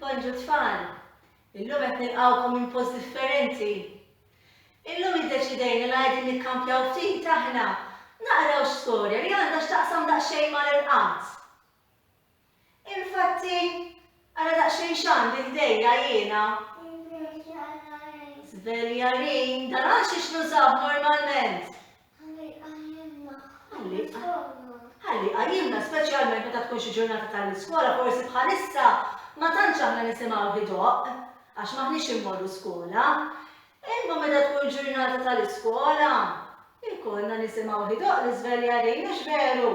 Bonġu tfal! Illum qed nilqgħukom minn post differenti. Illum iddeċidejna li qegħdin nikkampjaw ftit aħna naqraw storja li għandha x'taqsam daqsxejn mal-irqad. Infatti, ara daqsxejn x'għandi ħdejja jiena. Żveljarin, dan għax x'nużaw normalment. Ħalli jqajjimna. Ħalli jqajjimna. Ħalli jqajjimna, speċjalment meta tkun xi ġurnata tal-iskola, forsi bħalissa ma tantx aħna nisimgħu ħidoq għax m'aħniex immorru skola. Imma meta tkun ġurnata tal-iskola, ikollna nisimgħu ħidoq l-iżveljarin, mhux veru?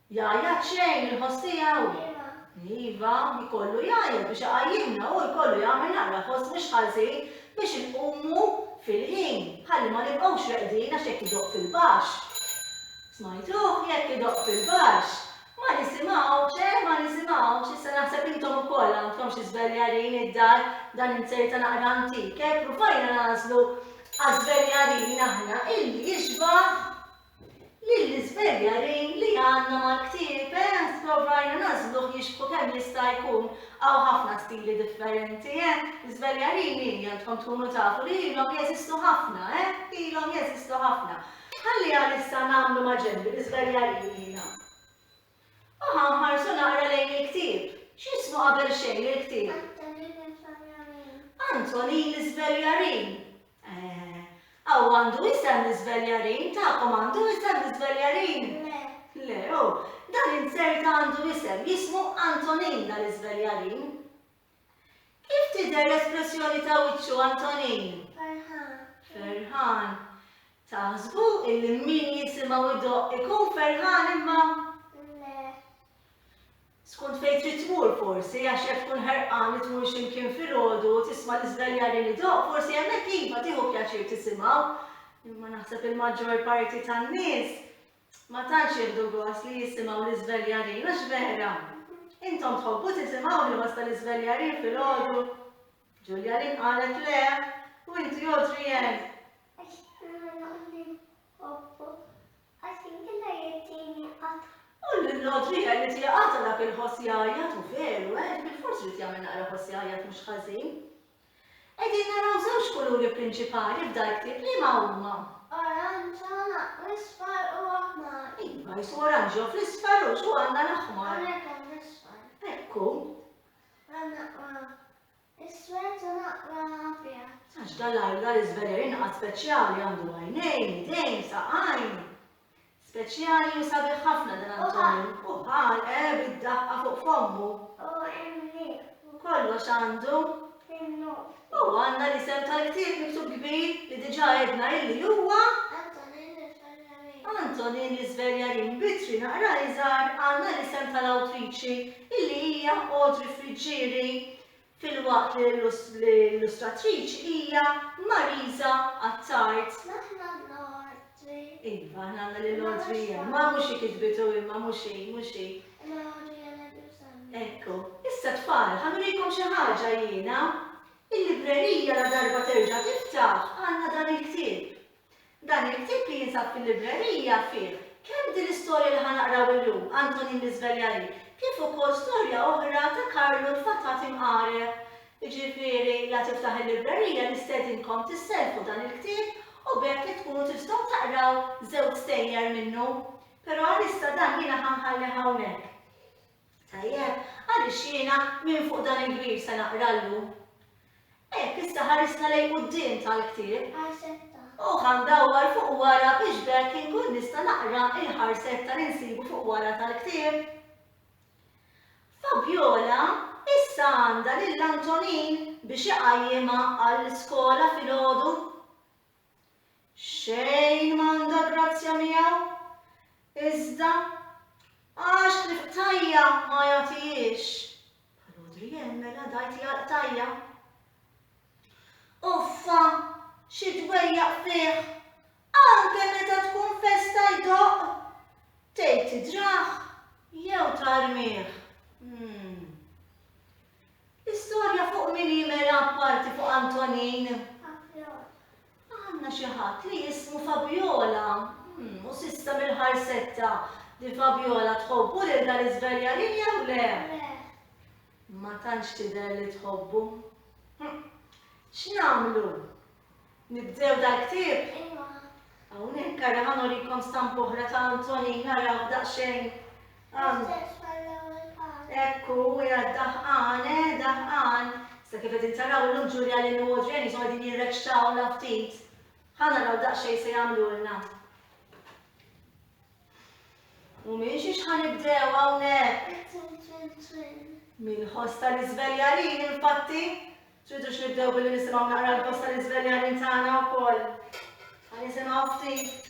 Jgħajjat xejn il-ħoss tiegħu? Iva, jkollu jgħajjat biex iqajjimna, hu jkollu jagħmel naqra ħoss mhux ħażin biex inqumu fil-ħin, ħalli ma nibqgħux reqdin għax jekk idoqq fil-baxx. Smajtuh? Jekk idoqq fil-baxx. Ma nisimgħux, eh, ma nisimgħux. Issa naħseb intom ukoll għandkom xi żveljarin id-dar, dan inzerta naqra antik, eh, pruvajna nagħżlu għaż-żveljarin aħna illi jixbah Lill-iżveljarin li għandna mal-ktieb, eh, sprovajna nagħżluh jixbħu kemm jista' jkun. Hawn ħafna stili differenti, eh. Żveljarin hi, għandkom tkunu tafu li ilhom jeżistu ħafna, eh, ilhom jeżistu ħafna. Ħalli għalissa nagħmlu ma' ġenbi l-iżveljarin jiena. U ħa nħarsu naqra lejn il-ktieb. X'jismu qabel xejn il-ktieb? Antonini Sveljarin. Antonini Sveljarin. Eh, aw għandu isem Sveljarin? Tagħkom għandu isem Sveljarin? Le. Le, oh, dan inzerta għandu isem, jismu Antonin dal-Sveljarin. Kif tidher l-espressjoni ta' wiċċu Antonin? Ferħan. Ferħan. Taħsbu illi min jisimgħu idoqq ikun ferħan imma? Le. Skont fejn trid tmur forsi għax jekk tkun ħerqan li tmur x'imkien filgħodu u tisma' l-iżdaljari li doq, forsi hemmhekk iva tieħu pjaċir tisimgħu. Imma naħseb il-maġġor parti tan-nies Ma tantx jieħdu gost li jisimgħu l-iżveljarin, għax vera? Intom tħobbu tisimgħu l-ħoss tal-iżveljarin filgħodu? Ġulja Lynn qalet le, u inti Adrienne? U l-Adrienne li tieqata dak il-ħoss jgħajjat u veru, eh, bilfors irid jagħmel naqra ħoss jgħajjat mhux ħażin. Qegħdin naraw żewġ kuluri prinċipali f'dal-ktieb, liema huma? Oranġo u isfar u aħmar. Iva, jsu oranġo fl-isfar u x'hu għandna l-aħmar. Hawnhekk hawn l-isfar. Ekku. Għandna qra iswed u naqra abjad. Għax dal-għajla l-iżveler inqas speċjali għandu għajnejn, idejn, saqajn. Speċjali u sabiħ ħafna dan Antonio. U ħanqe bid-daqqa fuq fommu. U emmi. U kollox għandu. Fin-nofs. U għandna l-isem tal-ktieb miktub kbir li diġà għedna illi huwa. Antonin l-Isverjarin. Antonin l-Isverjarin bitri naqra iżgħar għandna l-isem tal-awtriċi illi hija Audrey Friggieri. filwaqt li l-illustratriċi hija Marisa Attard. Aħna għandna l-ordri. Iva, aħna għandna lil ordri hemm. Ma mhux hi kitbitu imma mhux hi, mhux hi. Ma ordri għandna bjużanna. Ekku, issa tfal, ħanurikom xi ħaġa jiena. Il-librerija la darba terġa' tiftaħ għandna dan il-ktieb. Dan il-ktieb li jinsab fil-librerija fih kemm din l-istorja li ħa naqraw illum, Antonin l-Iżveljari, kif ukoll storja oħra ta' Karlu l-Fatat imqareb. Jiġifieri, la tiftaħ il-librerija nistedinkom tisselfu dan il-ktieb u b'hekk tkunu tistgħu taqraw żewġ stejjer minnu. Però għalissa dan jiena ħa nħallih hawnhekk. Tajjeb, għaliex jiena minn fuq dan il-kbir se naqra llum? Hekk issa ħarisna lejn quddiem tal-ktieb. U ħa ndawwar fuq wara biex b'hekk inkun nista' naqra l-ħarset ta' li nsibu fuq wara tal-ktieb. Fabiola issa għandha lil Antonin biex iqajjimha għall-iskola filgħodu. Xejn m'għandha grazzja miegħu, iżda għax li qtajja' ma jagħtihiex bħal Odrienne mela dgħajti għall-qtajja'. Uffa, xi dwejjaq fih, anke meta tkun festa jdoqq, tgħid tidrah jew tarmih. L-istorja fuq min hi Mela apparti fuq Antonin? Fabjola. Għandna xi ħadd li jismu Fabjola. Hm, u s'issa mill-ħarsetta, din Fabjola tħobbu lil dan iż-żveljanin jew le? Le. Ma tantx tidher li tħobbu. Hm, x'nagħmlu? Nibdew dal-ktieb? Ejwa. Hawnhekk ara ħa nurikom stampa oħra ta' Antonin, araw daqsxejn. L-istess bħall-ewwel każ. Hekk hu, qiegħed daħqan, eh, daħqan. Sa kif qegħdin taraw illum Ġulja, Lillu u Adrianne so qegħdin jirrekxawlna ftit. Ħa naraw daqsxejn se jagħmlulna. U minn xiex ħa nibdew hawnhekk? Mill-ħoss tal-iżveljanin, infatti. Tridux nibdew billi nisimgħu naqra l-ħoss tal-iżveljanin tagħna wkoll. Ħa nisimgħu ftit.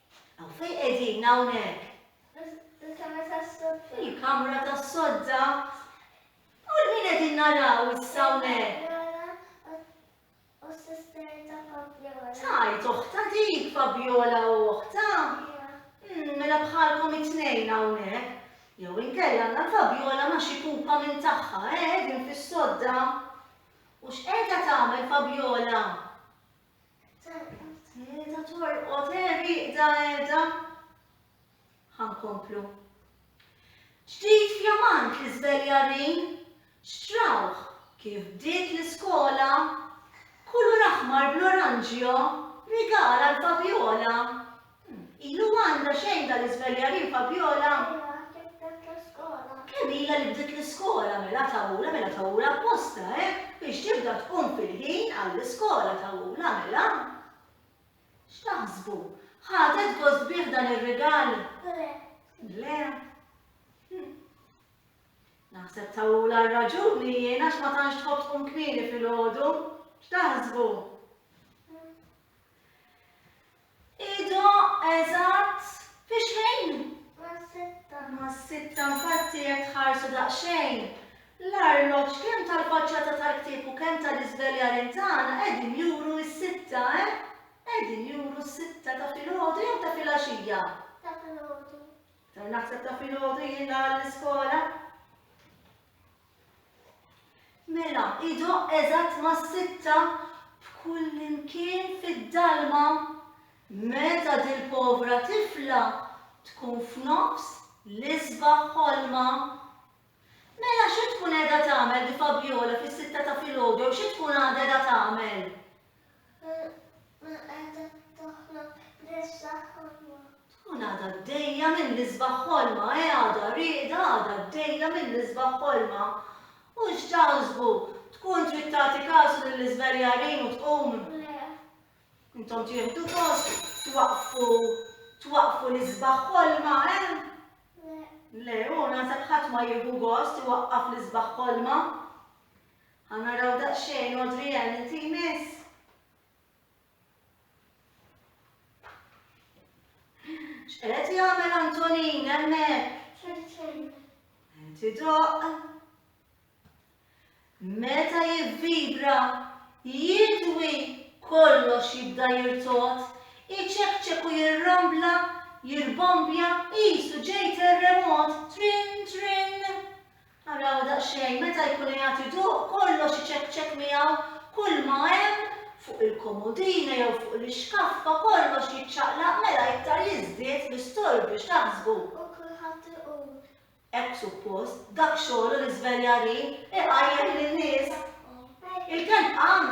Aw fejn qegħdin hawnhekk? Il-kamra tas-sodda. Il-kamra tas-sodda. U l-min qegħdin naraw issa hawnhekk? U s-sister ta' Fabiola. Tajt oħta dik Fabiola u oħta. Hmm, mela bħalkom it-tnejn hawnhekk. Jew inkella għandna Fabiola ma xi kupa minn tagħha, eh, din fis-sodda. U x'qiegħda tagħmel Fabiola? Terqod qiegħda, torqod eh, rieqda qiegħda. Ħa nkomplu. Ġdid fjamant l-iżveljarin, xtrawh kif bdiet l-iskola, kulur aħmar bl-oranġjo, rigal għall-Fabiola, Ilu għandha xejn dal-iżveljarin Fabiola? Kemm ilha li bdiet l-iskola mela tawula mela tawula apposta, eh? Biex tibda tkun fil-ħin għall-iskola tawula mela. X'taħsbu? Ħadet gost bih dan ir-rigal? Le. Le. Hm. Naħseb tawula r-raġuni jiena x'ma tantx tħobb tkun kmieni fil-ħodu. X'taħsbu? Idoqq eżatt fi xejn? Mas-sitta. Mas-sitta, infatti jekk tħarsu daqsxejn l-arloġġ kemm tal-faċċata tal-ktieb u kemm tal-iżveljarin tagħna qegħdin juru s-sitta, eh? Qegħdin juru s-sitta ta' filgħodu jew ta' filgħaxija? Ta' filgħodu. Naħseb ta' filgħodu jien l-iskola. Mela, idoqq eżatt mas-sitta b'kullimkien fid-dalma meta dil-povra tifla tkun f'nofs l-isbaħ ħolma. Mela xi tkun qiegħda tagħmel di Fabiola fis-sitta ta' filgħodu jew xi tkun għadha qiegħda tagħmel? Minn qiegħda taħlom bl-isbaħ ħolma. Tkun għadha għaddejja mill-isbaħ ħolma, eh għadha rieqda għadha għaddejja mill-isbaħ ħolma. U x'taħsbu, tkun trid tagħti kasu lill-iżverjarin u tqum? Le. Intom tieħdu gost twaqqfu twaqqfu l-isbaħ ħolma, eh? Le. Le, u naħseb ħadd ma jieħu gost iwaqqaf l-isbaħ ħolma. Ħa naraw daqsxejn Audrey Ann inti jmiss. X'qed jagħmel Antonin hemmhekk? Inti doq. Meta jivvibra, jidwi kollox jibda jirtot, iċekċek u jirrambla, jirbombja, qisu ġej terremot, trin trin. Araw daqsxejn, meta jkunu jagħtiduh, kollox iċekċek miegħu, kulma hemm fuq il-komodini jew fuq l-ixkaffa, kollox jiċċaqlaq, mela iktar jiżdied l-istorbju, x'taħsbu? U kulħadd iqum. Hekk suppost, dak xogħlu l-iżveljarin, iqajjem lin-nies. Il-kelb qam.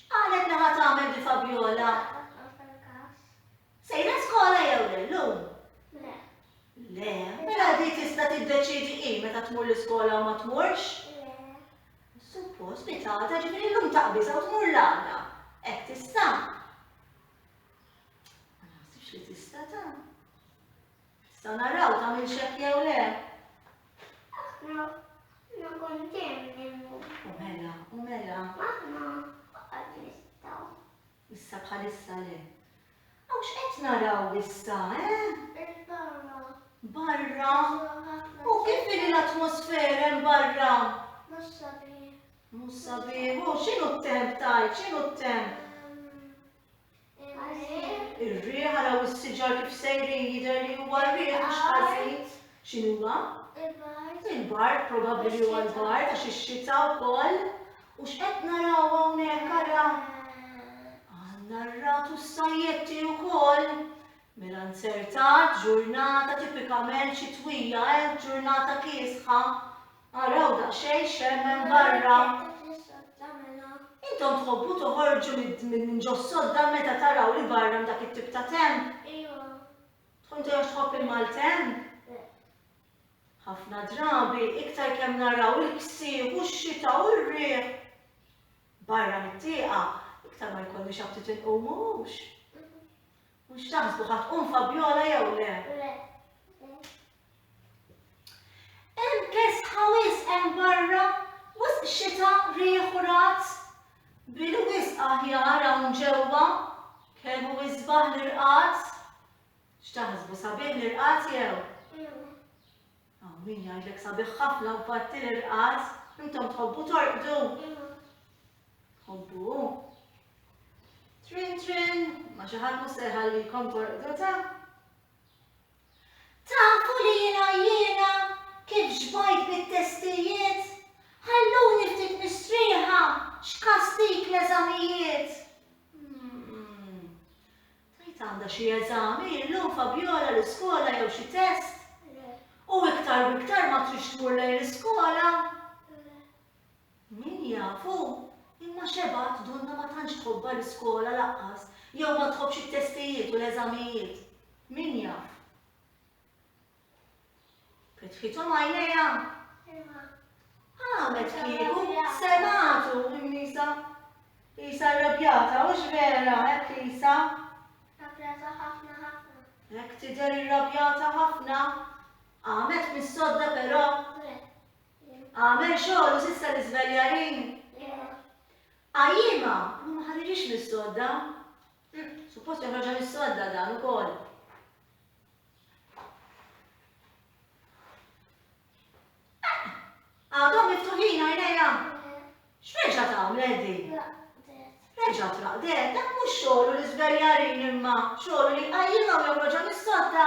X'qalet li ħa tagħmel di Fabiola? Sejra skola jew le llum? Le. Le, mela di tista' tiddeċiedi hi meta tmur l-iskola u ma tmurx? Le. Suppost li tagħta ġifieri llum taqbiżha u tmur l-għada. Hekk tista'? Ma naħsibx li tista' ta'. Nistgħu naraw tagħmilx hekk jew le? Aħna nkun dejjem minnu. U mela, u mela. Aħna qatt nistgħu. Issa bħalissa le. Aw x'qed naraw issa, eh? Il-barra. Barra? U kif li l-atmosfera hemm barra? Mhux sabiħ. Mhux sabiħ, u x'inhu t-temp tajt, x'inhu t-temp? Ir-riħ, araw is-siġar kif sejrin jidher li huwa r-riħ mhux ħażin. X'inhuwa? Il-bard, probabbli li huwa l-bard għax ix-xita wkoll. U x'qed naraw hawnhekk ara? Għandna r-ragħad u s-sajjetti wkoll. Mela nzertat, ġurnata tipikament xitwija, eh, ġurnata kiesħa. Araw daqsxejn x'hemmen barra. Intom tħobbu toħorġu minn ġos-sodda meta taraw li barra hemm dak it-tip ta' temp? Ejwa. Tkun tgħidx tħobb il-maltemp? Ħafna drabi, iktar kemm naraw il-ksieħ u x-xita u r-riħ barra mit-tieqa, iktar ma jkollniex aptit inqumu, mhux? Mhux taħsbu ħa tqum Fabiola jew le? Le. Hemm kesħa wisq hemm barra, wisq xita, riħ u razz. Bil wisq aħjar hawn ġewwa, kemm hu isbaħ l-irqad. X'taħsbu, sabiħ l-irqad jew? Hawn min jgħidlek sabiħ ħafna u batti l-irqad. Intom tħobbu torqdu? Tħobbu? Trin trin, ma xi ħadd mhux se jħallikom torqdu ta'? Tafu li jiena jiena kif xbajt bit-testijiet, ħalluni ftit mistrieħa x'kastik l-eżamijiet. Tgħid għandha xi eżami illum Fabiola l-iskola jew xi test? Le. U iktar u iktar ma tridx tmur lejn l-iskola? Le. Min jaf hu, imma xebgħat Dunna ma tantx tħobbha l-iskola lanqas jew ma tħobbx it-testijiet u l-eżamijiet. Min jaf? Fetħithom għajnejha? Iva. Għamel kieku semgħatu Nisa. Isa rrabjata, hux vera, hekk Isa? Rrabjata ħafna ħafna. Hekk tidher irrabjata ħafna. Għamet mis-sodda però. Għamel xogħol sissa l-iżveljarin. Għajjima, ma ħadirix mis-sodda. Suppost joħroġha mis-sodda dan ukoll. Għadhom miftuħin għajnejha. X'reġa' tagħmlet din? Reġa' traqdet, dak mhux xogħlu li żbeljarin imma xogħlu li jqajjimha u joħroġha mis-sodda.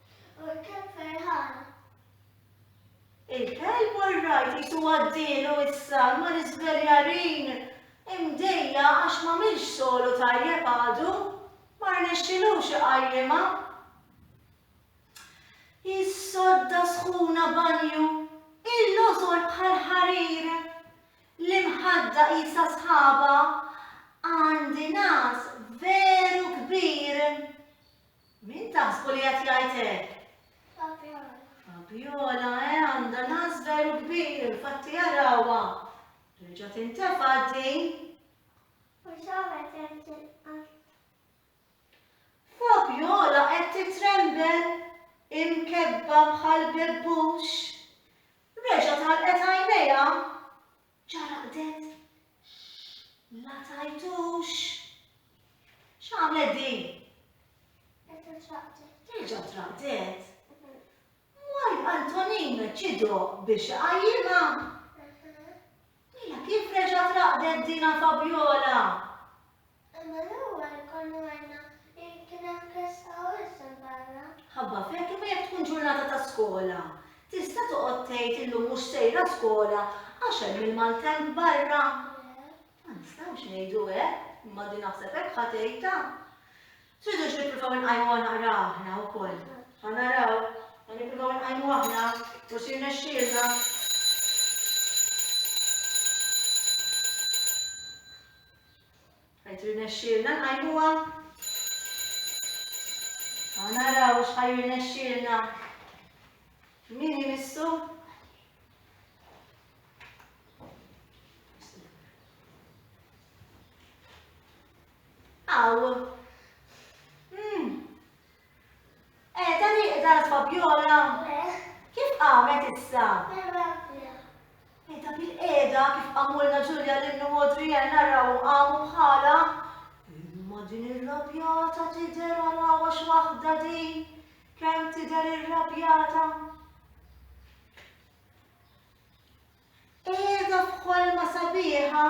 U l-kelb ferħan. Il-kelb u r-ragħaj qisu għaddielu issa ma' l-iżveljarin, imdejjaq għax m'għamilx sogħlu tajjeb għadu, ma rnexxilux iqajjimha. Jissodda sħuna banju, il-lożor bħal ħarir, l-imħadda qisha sħaba, għandi nas veru kbir. Min taħsbu li qed jgħid hekk? Fabiola. Fabiola, eh, għandha nas veru kbir, infatti arawha. Reġa' tintefa' din. Fabiola qed titrembel imkebba bħal bebbux. Reġa' talqet għajnejha. Ċaraqdet. Ma tajtux. X'għamlet din? Terġa' traqdet. Terġa' traqdet? Mwal Antonin ċidu biex iqajjimha. Mela kif reġgħet raqdet dina Fabjola? Imma l-ewwel konna għedna li kien hemm klesta u issa l-barra. Ħabba f'hekk imma jekk tkun ġurnata ta' skola, tista' toqgħod tgħid illum mhux sejra skola għax hemm il-maltemp barra? Le. Ma nistgħux ngħidu hekk, imma din naħseb hekk ħa tgħidha. Tridux nippruvaw inqajmuha naqra aħna wkoll? Ħa naraw, ħa nippruvaw inqajmu aħna, forsi jirnexxielna. Qed irnexxielna nqajmuha? Ħa naraw x'ħa jirnexxielna. Min imissu? Aw. Hmm. Qiegħda nieqda l-Fabiola? Eh. Kif qamet issa? Bil-għafja. Qiegħda bil-qiegħda kif qamulna Ġulja lil u Adrienne narrawhom qamu bħalha. Imma din irrabjata tidher għal x'waħda din kemm tidher irrabjata. Qiegħda f'ħolma sabiħa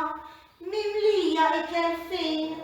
mimlija ikel fin.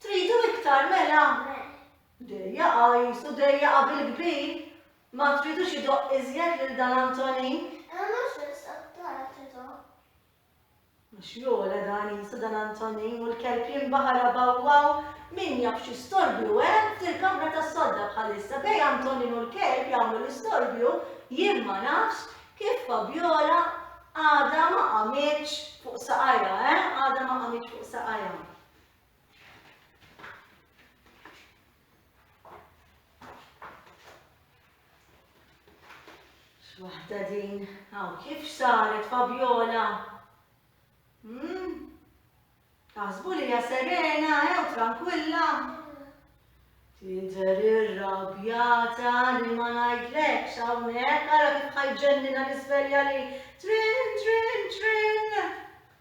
Tridu iktar mela? Dejja qajs u dejja qabil kbir! Ma tridux idoqq iżjed lil dan Antonin? Imma mhux biss għat-talb idoqq. Għax jogħla dan qisu dan Antonin u l-kelb jinbaħar abawwaw! Min jaf xi storbju hemm f'dil-kamra tas-sodda bħalissa bejn Antonin u l-kelb jagħmlu l-istorbju, jien ma nafx kif Fabiola għadha ma qamitx fuq saqajha, eh, għadha ma qamitx fuq saqajha. Waħda din, għaw kif saret Fabiola? Hmm? Taħsbu li hija serena, ew eh, tranquilla. Tidher irrabjata li ma ngħidlekx hawnhekk ara kif ħajġennina l-isvelja li trin trin trin.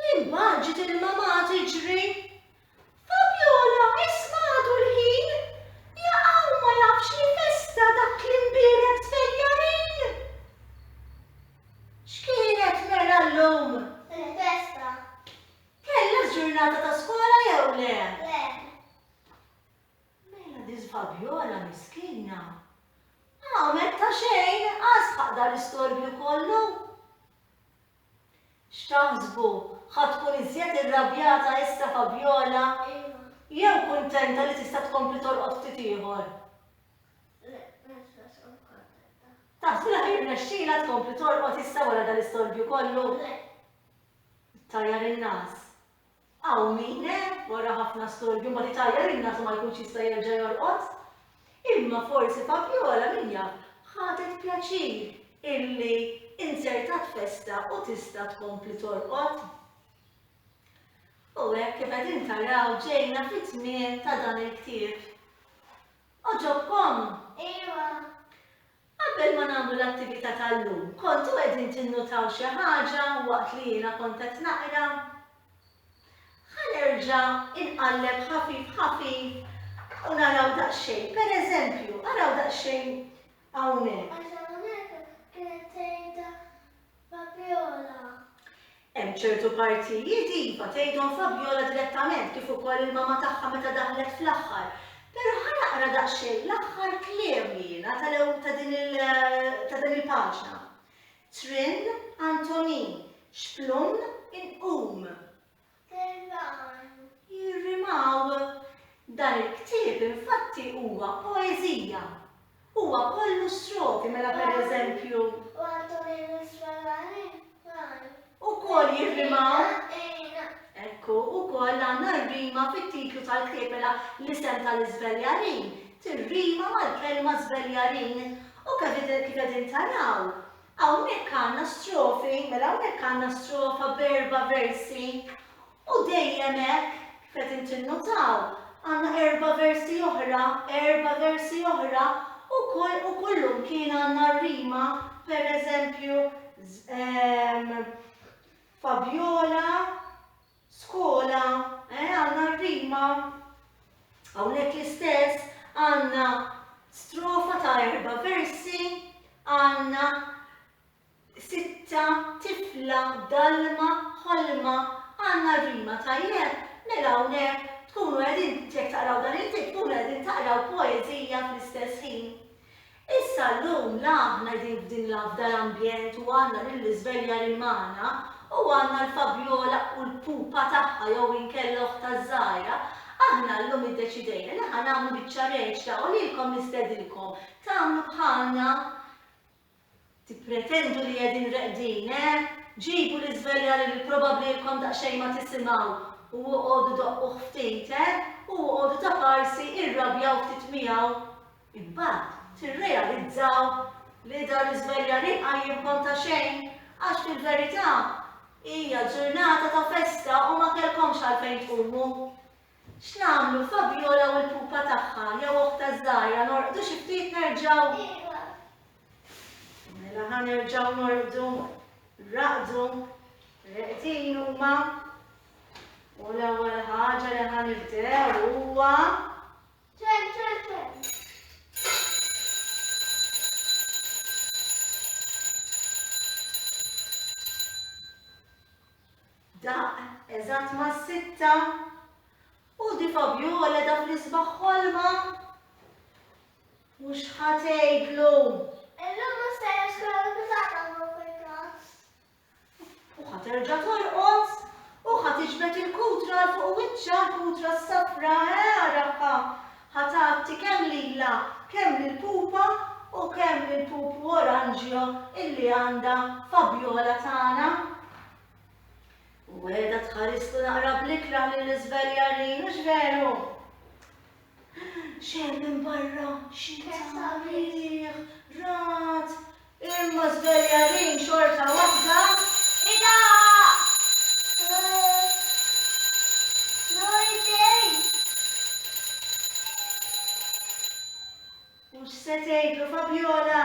L-imbaġit il-mamà tiġri. Fabiola isma' għadu l-ħin, jaqa' u ma jafx li festa dak li nbierek tfejjarin! X'kienet mela llum? Il-festa. Kellha ġurnata ta' skola jew le? Le. Mela din Fabiola miskina għamlet ta' xejn, għasħaq dal-istorbju kollu! X'taħsbu, ħa tkun iżjed irrabjata issa Fabiola? Iva. Jew kuntenta li tista' tkompli torqod ftit ieħor? Le, nista' tkun kuntenta. Taħsbu li ħa jirnexxilha tkompli torqod issa wara dan l-istorbju kollu? Le. Ttajjar in-nas. Hawn min hemm, wara ħafna storbju mbagħad itajjar in-nas u ma jkunx jista' jerġa' jorqod. Imma forsi Fabiola, min jaf, ħadet pjaċir illi inzertat festa u tista' tkompli torqod. U hekk kif qegħdin taraw ġejna fit-tmiem ta' dan il-ktieb. Għoġobkom? Ejwa! Qabel ma nagħmlu l-attività tal-lum, kontu qegħdin tinnutaw xi ħaġa waqt li jiena kont qed naqra? Ħa nerġa' inqalleb ħafif ħafif u naraw daqsxejn. Pereżempju, araw daqsxejn hawnhekk. Fabiola. Hemm ċertu partijiet iva tgħidhom Fabiola direttament kif ukoll il-mama tagħha meta daħlet fl-aħħar. Però ħa naqra daqsxejn l-aħħar kliem li jiena tal-ew ta' din il ta' din il-paġna. Trin Antonin, xplun inqum. Terran jirrimaw. Dan il-ktieb infatti huwa poeżija. Huwa kollu strofi mela pereżempju. U Antonino Sfalani qal. Ukoll jirrimaw. Ejna. Ekku, ukoll għandna r-rima fit-titlu tal-ktieb mela l-isem tal-iżveljarin tirrima mal-kelma żveljarin. U kif qegħdin taraw, Hawnhekk għandna strofi, mela hawnhekk għandna strofa b'erba' versi u dejjem hekk, kif qed inti nnutaw, għandna erba' versi oħra, erba' versi oħra u u kullimkien għandna r-rima, pereżempju, ehm, Fabjola, skola, eh, għandna r-rima, hawnhekk l-istess, għandna strofa ta' erba' versi, għandna sitta, tifla, dalma, ħolma, għandna r-rima, tajjeb, mela hawnhekk tkunu qegħdin, jekk taqraw dan il-ktieb tkunu qegħdin taqraw poeżija fl-istess ħin. Issa llum la aħna qegħdin f'din l-afdal ambjent u għandna lill-iżveljarin magħna u għandna l-Fabiola u l-pupa tagħha jew inkella oħtha ż-żgħira, aħna llum iddeċidejna li ħa nagħmlu biċċa reċta u lilkom nistedinkom tagħmlu bħalna Tippretendu li qegħdin reqdin, eh? Ġibu l-iżverjali li probabbli ilkom daqsxejn ma tisimgħu u oqogħdu doqquh ftit, eh? U oqogħdu ta' farsi irrabjaw ftit miegħu. Imbagħad tirrealizzaw li dan l-iżverjali jqajjimkom ta' xejn għax fil-verità hija ġurnata ta' festa u ma kellkomx għalfejn tqumu. X'nagħmlu, Fabiola u l-pupa tagħha jew oħtha ż-żgħira, norqdu xi ftit nerġgħu? Mela ħa nerġgħu norqdu, raqdu, reqdin huma. U l-ewwel ħaġa li ħa nibdew huwa eżatt ma' sitta u di Fabiola dak li sbaħ ħolma U x'ħa tgħidlu? Illum ma sejjerx kellu l-pitata ma fil-każ. U ħa terġa' torqod? U ħa tiġbed il-kutra 'l fuq wiċċha, l-kutra s-safra, eh, għarafha! Ħa tgħatti kemm lilha, kemm lill-pupa u kemm lill-pupu oranġjo illi għandha Fabiola tagħna. U qiegħda tħarislu naqra bl-ikrah lill-iżveljarin, mhux veru? X'hemm minn barra? Xita sabiħ, ragħad, imma żveljanin xorta waħda idaqq! L-ordin! U x'se tgħidlu Fabjola?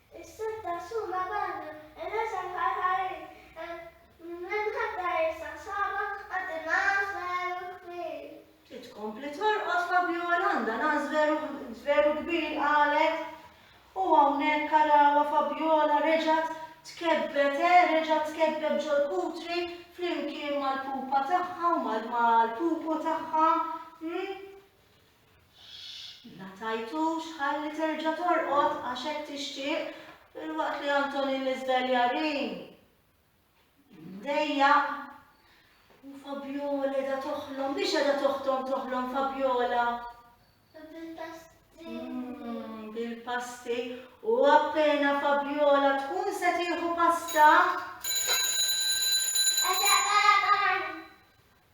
Is-sett ta' Suma Banu Elazar Ħarħarin l-imħaddra issa nsaba quddiem nagħaż veru kbir. Trid tkompli torqod Fabiola għandha nagħaż veru kbir qalet. U hawnhekk arawha Fabiola reġgħet tkebbet eh, reġgħet tkebbet ġol-kutri flimkien mal-pupa tagħha u mal-pupu tagħha. M'ingħatajtux ħalli terġa' torqod għax hekk tixtieq filwaqt li Antonin l-iżveljarin mdejjaq u Fabjola qiegħda toħlom, mhix qiegħda toħtom toħlom Fabjola. Bil-pasti. Mm, bil-pasti u appena Fabjola tkun se tieħu pasta.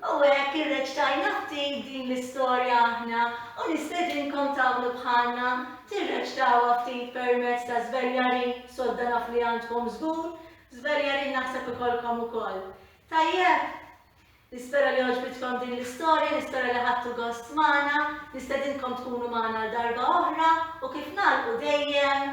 U hekk irreċtajna ftit din l-istorja aħna u nistedinkom tagħmlu bħalna, tirreċtawha ftit permezz ta' żveljarin, sodda naf li għandkom żgur, żveljarin naħseb ikollkom ukoll. Tajjeb? Nispera li għoġbitkom din l-istorja, nispera li ħadtu gost magħna, nistedinkom tkunu magħna għal darba oħra u kif nagħlqu dejjem,